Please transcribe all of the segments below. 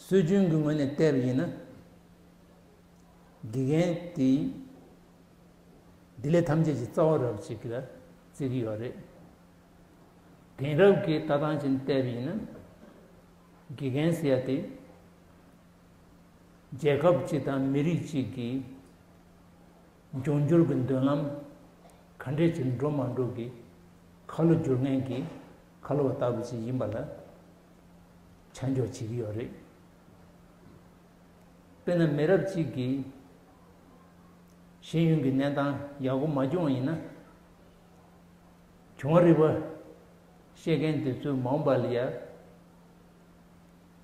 སྲོལ་རྒྱུན་གྱི་ངོས་ནས་བལྟས་པ་ཡིན་ན། དགེ་རྒན་དེས་སྡེ་ལས་ཐམས་ཅད་ཀྱི་རྩ་བ་རབས་ཅིག་ལ་བརྩི་གི་ཡོད་རེད། དེང་རབས་ཀྱི་ལྟ་སྟངས་ཀྱིས་བལྟས་པ་ཡིན་ན། དགེ་རྒན་ཟེར་ཡ་དེ། རྒྱལ་ཁབ་ཅིག་དང་མི་རིགས་གཅིག་གི་འབྱུང་འགྱུར་གྱི་མདུན་ལམ་ག་འདྲས་ཀྱིས་འགྲོ་མ་འགྲོ་གི་ཁ་ལོ་བསྒྱུར་མཁན་གྱི་ཁ་ལོ་བ་ལྟ་བུ་ཞིག་ཡིན་པ་ལ་ཆ་འཇོག་བྱེད་ཀྱི་ཡོད་རེད། དཔེར་ན་མི་རབས་གཅིག་གིས་ཤེས་ཡོན་གྱི་གནས་སྟངས་ཡག་པོ་མ་བྱུང་བ་ཡིན་ན། བྱུང་བ་རིག་པ་ཤེས་མཁན་དེ་ཚོའི་མང་བ་ལ་ཡང་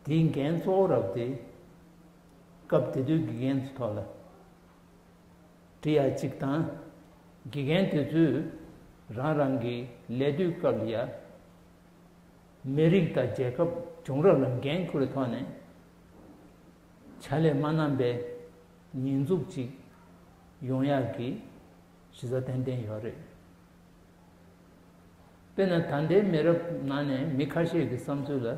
དེའི་འགན་གཙོ་བོ་རག་སྟེ། སྐབས་དེ་དུས་དགེ་རྒན་ཚོའི་ཐོག་ལ། འབྲི་ཡག་ཅིག་དང། དགེ་རྒན་དེ་ཚོས་རང་རང་གི་ལས་གཏོད་སྐབས་ལ་ཡང། མི་རིགས་དང་རྒྱལ་ཁབ་བྱུང་རབས་ལ་འགན་ཁུར་བའི་ཐོག་ནས། བྱ་ལས་མ་བསྣམས་པའི་ཉེས་འཛུགས་ཅིག་ཡོང་ཡག་གི་གཞི་རྩ་ཏན་ཏན་ཡོད་རེད། དཔེར་ན་ད་ལྟའི་མི་རབས་ནང་ནས་མི་ཁ་ཤས་ཀྱི་བསམ་ཚུལ་ལ།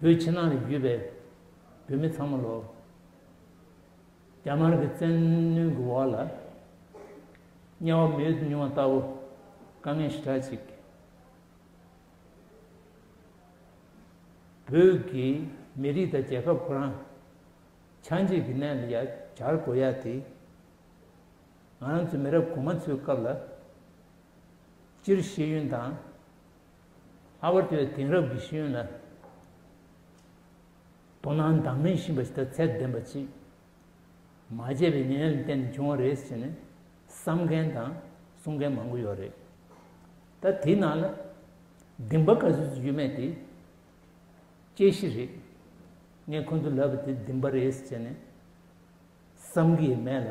བོད་ཕྱི་ནང་ནས་བརྒྱུད་པའི་བོད་མི་ཚང་མ་ལོ། རྒྱ་དམར་གྱི་བཙན་གནོན་གྱི་འོག་ལ་དམྱལ་བ་མི་ཡུལ་དུ་མྱོང་བ་ལྟ་བུ་དཀའ་ངལ་ཞི་དྲག་ཅིག་བོད་ཀྱི་མི་རིགས་དང་རྒྱལ་ཁབ་ཁོ་རང་ཆགས་འཇིག་གི་གནས་ལ་ཡ་གྱར་དགོས་ཡ་དེ་ང་རང་ཚོའི་མི་རབས་གོང་མ་ཚོའི་སྐབས་ལ་སྤྱིར་ཤེས་ཡོན་དང། ལྷག་པར་དུ་དེང་རབས་ཀྱི་ཤེས་ཡོན་ལ་དོ་སྣང་དང་མི་ཤིས་པ་ཞིག་དང་ཚད་ལྡན་པ་ཅིག་མ་བྱས་པའི་ཉེན་ལས་ཏན་བྱུང་བ་རེད་ཟེར་ནས་བསམ་མཁན་དང་གསུང་མཁན་མང་པོ་ཡོད་རེད་ད་དེའི་ནང་ལ་སྡིངས་པ་ག་ཚོད་ཅིག་ཡོད་མེད་དེ་དཔྱད་གཞི་རེད་ངས་ཁོ་ཚོ་ལབ་པ་དེ་སྡིངས་པ་རེད་ཟེར་ནས་བསམ་གི་ཡོད་མེད་ལ་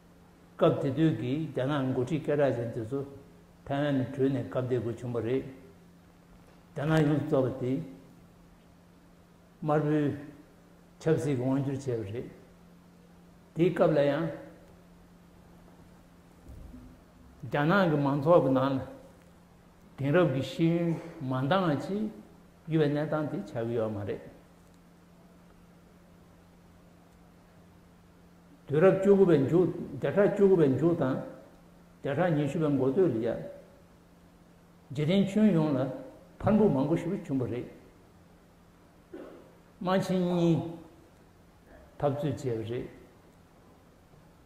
སྐབས་དེ་དུས་ཀྱི་རྒྱ་ནག་མགོ་ཁྲིད་སྐད་གྲགས་ཅན་དེ་ཚོ་ཐའེ་ཝན་ནས་བྲོས་ནས་སྐབས་དེ་དགོས་བྱུང་བ་རེད། རྒྱ་ནག་ཡོངས་སུ་རྫོགས་པ་དེ། དམར་པོའི་ཆབ་སྲིད་ཀྱི་དབང་བསྒྱུར་བྱས་པ་རེད། དེའི་སྐབས་ལ་ཡང། རྒྱ་ནག་གི་མང་ཚོགས་ཀྱི་ནང་ལ་དེང་རབས་ཀྱི་ཤེས་ཡོན་མ་འདང་བ་ཅིག་ཡོད་པའི་གནས་སྟངས་དེ་ཆགས་ཀྱི་ཡོད་མ་རེད། དུས་རབས་བཅུ་དགུ་པའི་མཇུག་བརྒྱ་ཕྲག་བཅུ་དགུ་པའི་མཇུག་དང། བརྒྱ་ཕྲག་ཉི་ཤུ་པའི་མགོ་སྟོད་ལ། རྗེ་དྲིན་ཆོན་ཡོངས་ལ་ཕར་འབུད་མང་པོ་ཞིག་བྱུང་བ་རེད། རྨ་ཆེན་གཉིས་འཐབ་རྩོད་བྱས་པ་རེད།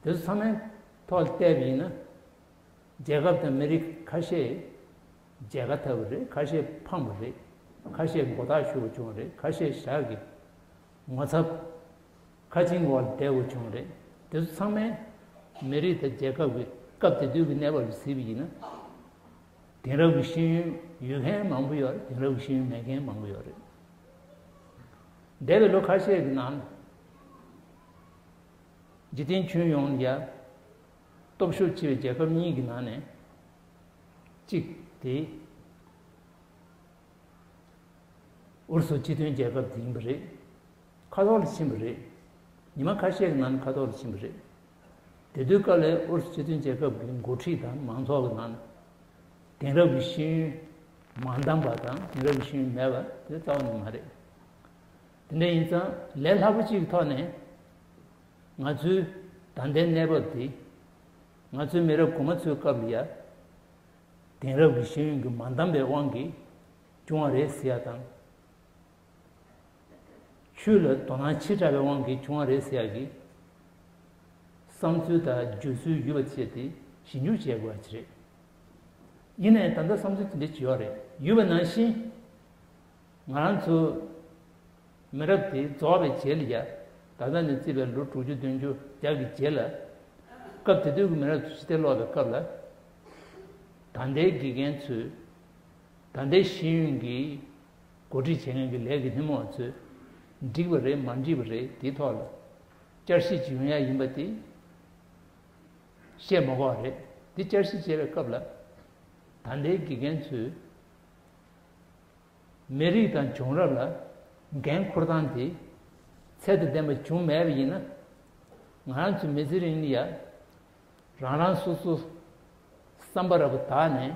དེ་ཚོ་ཚང་མའི་ཐོག་ལ་བལྟས་པ་ཡིན་ན། རྒྱལ་ཁབ་དང་མི་རིགས་ཁ་ཤས་རྒྱལ་ཁ་འཐབ་པ་རེད་ཁ་ཤས་འཕངས་པ་རེད་ཁ་ཤས་མགོ་ཐག་ཞུ་བ་བྱུང་བ་རེད་ཁ་ཤས་ཞག་གི་ངོ་ཚབ། ཁ་ཆེམས་འོག་ལ་བསྡད་དགོས་བྱུང་བ་རེད། དེ་ཚོ་ཚང་མས། མི་རིགས་དང་རྒྱལ་ཁབ་ཀྱི་སྐབས་དེ་དུས་ཀྱི་གནས་བབ་ལ་གཟིགས་པ་ཡིན་ན། དེང་རབས་ཀྱི་ཤེས་ཡོན་ཡོད་མཁན་མང་པོ་ཡོད་དེང་རབས་ཀྱི་ཤེས་ཡོན་མེད་མཁན་མང་པོ་ཡོད་རེད། འདས་པའི་ལོ་ཁ་ཤས་ཀྱི་ནང། འཇིག་རྟེན་ཁྱོན་ཡོངས་ནས་ཀྱང། སྟོབས་ཤུགས་ཆེ་བའི་རྒྱལ་ཁབ་གཉིས་ཀྱི་ནང་ནས། གཅིག་དེ། ཨུ་རུ་སུ་སྤྱི་མཐུན་རྒྱལ་ཁབ་དེ་ཡིན་པ་རེད། ཁ་ཐོག་ལ་ཕྱིན་པ་རེད། ཉི་མ་ཁ་ཤས་ཀྱི་ནང་ཁ་ཐོག་ལ་ཕྱིན་པ་རེད། དེ་དུས་ཀ་ལའི་ཨུ་རུ་སུ་སྤྱི་མཐུན་རྒྱལ་ཁབ་ཀྱི་འགོ་ཁྲིད་དང་མང་ཚོགས་ཀྱི་ནང་དེང་རབས་ཀྱི་ཤེས་ཡོན་མ་འདང་པ་དང་དེང་རབས་ཀྱི་ཤེས་ཡོན་མེད་པ་དེ་རྩ་བ་ནས་མ་རེད། དེ་འདྲ་ཡིན་ཙང་ལས་སླ་པོ་གཅིག་གི་ཐོག་ནས་ང་ཚོའི་ད་ལྟའི་གནས་བབ་དེ་ང་ཚོའི་མི་རབས་གོང་མ་ཚོའི་སྐབས་ལ་ཡ་དེང་རབས་ཀྱི་ཤེས་ཡོན་གྱི་མ་འདང་པའི་དབང་གིས་བྱུང་བ་རེད་ཟེར་ཡ་དང། ཆོས་ལ་དོ་སྣང་ཆེ་དྲགས་པའི་དབང་གིས་བྱུང་བ་རེད་ཟེར་ཡག་གི། བསམ་ཚུལ་དང་བརྗོད་ཚུལ་ཡོད་པ་སྤྱད་དེ་ཞིབ་འཇུག་བྱེད་དགོས་པ་ཅི་རེད། ཡིན་ནའི་ད་ལྟ་བསམ་ཚུལ་དེ་འདྲའི་བྱེད་ཡོ་རེད་ཡོད་པ་ནང་བཞིན། ང་རང་ཚོ་མི་རབས་དེ་རྫོགས་པའི་རྗེས་ལ་ཡང་ད་ལྟ་ནས་བརྩིས་པའི་ལོ་དྲུག་ཅུ་བདུན་ཅུ་བརྒྱ་གི་རྗེས་ལ། སྐབས་དེ་དུས་ཀྱི་མི་རབས་ཚོ་ཕྱི་བལྟས་ཀློག་པའི་སྐབས་ལ། ད་ལྟའི་དགེ་རྒན་ཚོས་ད་ལྟའི་ཤེས་ཡོན་གྱི་གོ་སྒྲིག་བྱེད་མཁན་གྱི་ལས་ཀྱི་སྣེ་མོ་ཚོས་འགྲིག་པ་རེད་མ་འགྲིག་པ་རེད་དེའི་ཐོག་ལ་བསྐྱར་བཤད་བྱེད་ཡོང་ཡ་ཡིན་པ་དེ་བཤད་མ་གོ་བ་རེད་དེ་བསྐྱར་བཤད་བྱེད་པའི་སྐབས་ལ་ད་ལྟའི་དགེ་རྒན་ཚོས་མི་རིགས་དང་བྱུང་རབས་ལ་འགན་ཁུར་སྟངས་དེ་ཚད་དང་ལྡན་པ་བྱུང་མེད་པ་ཡིན་ན་ང་རང་ཚོའི་མི་ཚེ་རིང་ལ་ཡང་རང་རང་སོ་སོ་བསམ་པ་ར་བ་དག་ནས་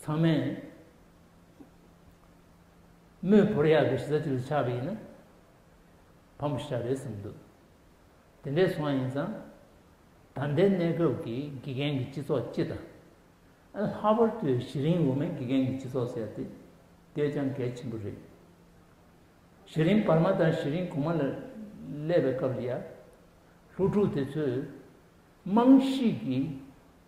ཚང་མས་མོས་བོར་ཡག་གི་གཞི་རྩ་གཅིག་ཏུ་ཆགས་པ་ཡིན་ན་ཕམ་པོ་ཞིག་ཆགས་རེད་བསམ་འདུག་དེ་འདྲས་སོང་བ་ཡིན་ཙང་ད་ལྟའི་གནས་སྐབས་ཀྱི་དགེ་རྒན་གྱི་སྤྱི་ཚོགས་སྤྱི་དང། ལྷག་པར་དུ་གཞི་རིམ་དབུ་མའི་དགེ་རྒན་གྱི་སྤྱི་ཚོགས་ཟེར་ཏེ་བསྡད་ཀྱང་གལ་ཆེན་པོ་རེད། གཞི་རིམ་བར་མ་དང་གཞི་རིམ་གོང་མ་ལ་སླེབས་པའི་སྐབས་ལ་ཡར། ལྷོ་ཕྲུག་དེ་ཚོས་རྨང་གཞིའི་དགེ་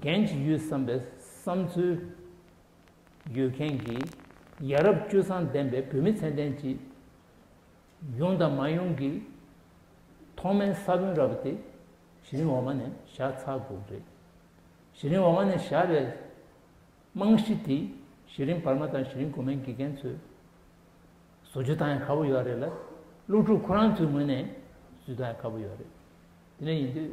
འགན་ཅི་ཡོད་བསམ་པའི་བསམ་ཚུལ་ཡོད་མཁན་གྱི་ཡ་རབས་སྤྱོད་བཟང་ལྡན་པའི་བོད་མི་ཚད་ལྡན་གྱི་ཡོང་དང་མ་ཡོང་གི་ཐོག་མའི་ས་བོན་ར་བ་དེ་གཞི་རིམ་འོག་མ་ནས་བཞག་ཚར་དགོས་རེད། གཞི་རིམ་འོག་མ་ནས་བཞག་པའི་རྨང་གཞི་དེ་གཞི་རིམ་བར་མ་དང་གཞི་རིམ་གོང་མའི་དགེ་རྒན་ཚོས་བཟོ་རྒྱུ་དང་ཡང་ཁག་པོ་ཡོད་རེད་ལ་སློབ་ཕྲུག་ཁོ་རང་ཚོའི་ངོས་ནས་བཟོས་དང་ཡང་ཁག་པོ་ཡོད་རེད། དེ་འདྲ་ཡིན་དུས།